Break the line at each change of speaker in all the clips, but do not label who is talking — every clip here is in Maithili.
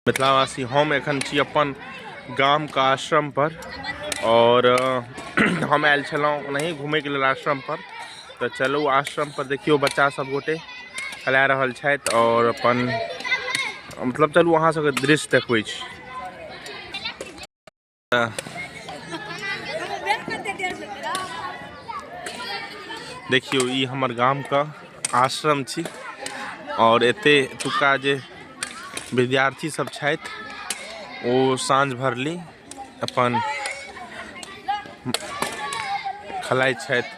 मिथिलावासी हम एखन छी अपन गामके आश्रमपर आओर हम आयल छलहुँ ओनाही घुमैके लेल आश्रमपर तऽ चलू आश्रमपर देखियौ बच्चा सब गोटे खेला रहल छथि आओर अपन मतलब चलू अहाँ सबके दृश्य देखबै छी देखियो ई हमर गाम का आश्रम छी और एते एतुका जे विद्यार्थी सब छथि ओ साँझ भरली अपन खेलाइ छथि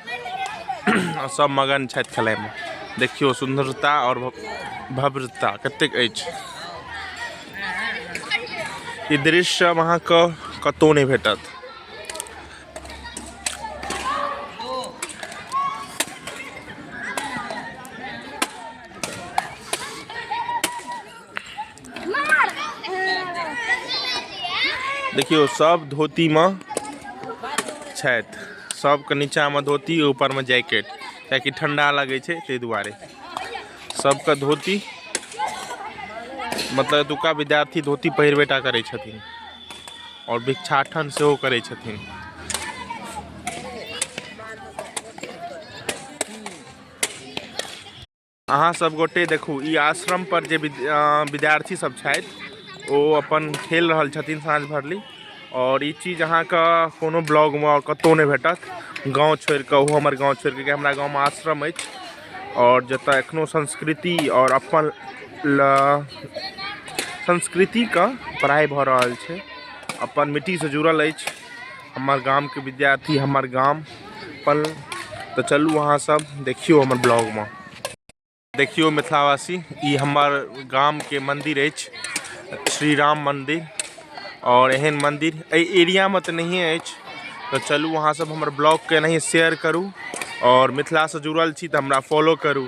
आ सब मगन छथि खेलाइमे देखियो सुन्दरता और भव्यता कतेक अछि ई दृश्य आब अहाँके कतहु नहि भेटत देखियौ सब धोतीमे छथि सबके नीचाँमे धोती ऊपरमे जैकेट कियाकि ठंडा लगै छै ताहि दुआरे सबके धोती मतलब एतुका विद्यार्थी धोती पहिरबेटा करै छथिन आओर भिक्षाटन सेहो करै छथिन अहाँ सब गोटे देखू ई आश्रम पर जे विद्यार्थी सब छथि ओ अपन खेल रहल छथिन साँझ भरली और ई चीज अहाँके कोनो ब्लॉग में कतौ नहीं भेटत गाँव छोड़ के ओहो हमर गाँव छोड़ के हमरा गाँव में आश्रम है और जत एखनो संस्कृति और अपन संस्कृति का पढ़ाई भ रहा है अपन मिट्टी से जुड़ल है हमर गामके विद्यार्थी हमर गाम पल तऽ चलू अहाँसभ देखियौ हमर ब्लॉगमे देखियौ मिथिलावासी ई हमर गामके मन्दिर अछि श्री राम मन्दिर आओर एहन मन्दिर एहि एरियामे तऽ नहिए अछि तऽ चलू अहाँसभ हमर ब्लॉगके एनाहिए शेयर करू आओर मिथिलासँ जुड़ल छी तऽ हमरा फॉलो करू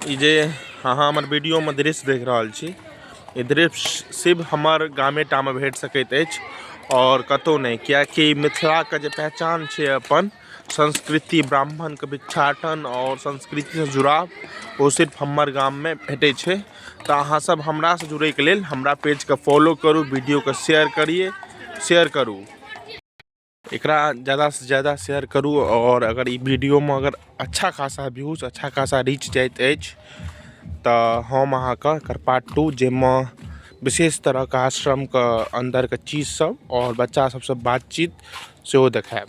ई जे अहाँ हमर वीडियोमे दृश्य देख रहल छी ई दृश्य सिर्फ हमर गामे टामे भेट सकैत अछि आओर कतहु नहि किएकि मिथिलाके जे पहचान छै अपन संस्कृति ब्राह्मणके भिक्षाटन आओर संस्कृतिसँ जुड़ाव ओ सिर्फ हमर गाममे भेटै छै तऽ अहाँ सब हमरा से जुड़े के लिए हमरा पेज के फॉलो करू वीडियो के शेयर करिए शेयर करू एक ज़्यादा से ज़्यादा शेयर करू और अगर ये वीडियो में अगर अच्छा खासा व्यूज अच्छा खासा रीच जात तो हम अहाँ कर पार्ट टू जैमे विशेष तरह के आश्रम के अंदर के चीज सब और बच्चा सबसे बातचीत से देखायब